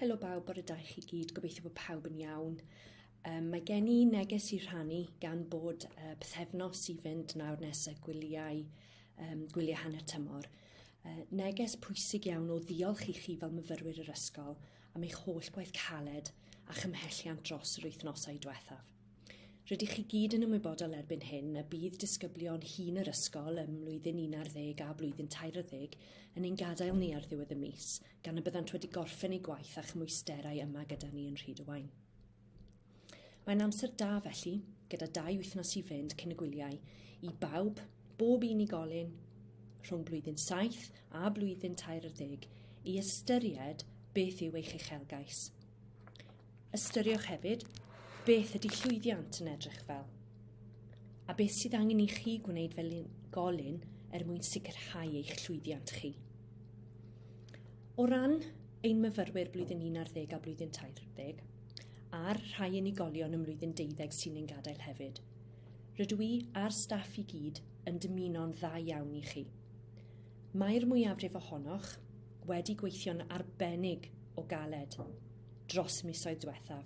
Helo bawb, bore da i chi gyd, gobeithio bod pawb yn iawn. Um, mae gen i neges i rhannu gan bod uh, pethefnos i fynd nawr nes y gwyliau, um, gwyliau hanner tymor. Uh, neges pwysig iawn o ddiolch i chi fel myfyrwyr yr ysgol am eich holl gwaith caled a chymhelliant dros yr wythnosau diwethaf. Rydych chi gyd yn ymwybodol erbyn hyn y bydd disgyblion hŷn yr ysgol ym mlwyddyn 11 a blwyddyn 12 yn ein gadael ni ar ddiwedd y mis, gan y byddant wedi gorffen eu gwaith a chymwysterau yma gyda ni yn Rhydywaun. Mae'n amser da felly, gyda dau wythnos i fynd cyn y gwyliau, i bawb, bob unigolyn, rhwng blwyddyn 7 a blwyddyn 13, i ystyried beth yw eich uchelgais. Ystyriwch hefyd beth ydy llwyddiant yn edrych fel a beth sydd angen i chi gwneud fel golyn er mwyn sicrhau eich llwyddiant chi. O ran ein myfyrwyr blwyddyn 11 a blwyddyn 30, a'r rhai unigolion ym mlwyddyn 12 sy'n ein gadael hefyd, rydw i a'r staff i gyd yn dymuno'n dda iawn i chi. Mae'r mwyafrif ohonoch wedi gweithio'n arbennig o galed dros misoedd diwethaf,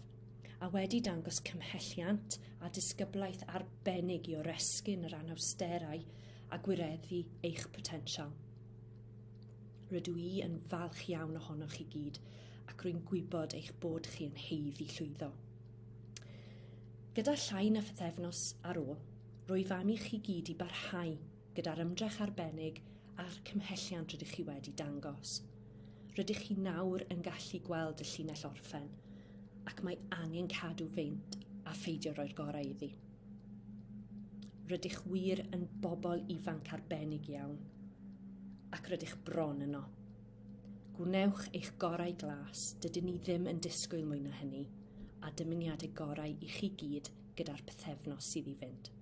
a wedi dangos cymhelliant a disgyblaeth arbennig i oresgyn yr anawsterau a gwireddu eich potensial. Rydw i yn falch iawn ohonoch chi gyd ac rwy'n gwybod eich bod chi yn heiddi llwyddo. Gyda llai na phythefnos ar ôl, rwyf am i chi gyd i barhau gyda'r ymdrech arbennig a'r cymhelliant rydych chi wedi dangos. Rydych chi nawr yn gallu gweld y llinell orffen, ac mae angen cadw feint a pheidio roi'r gorau iddi. Rydych wir yn bobl ifanc arbennig iawn, ac rydych bron yno. Gwnewch eich gorau glas, dydyn ni ddim yn disgwyl mwy na hynny, a dymuniadau gorau i chi gyd gyda'r pethefnos sydd i fynd.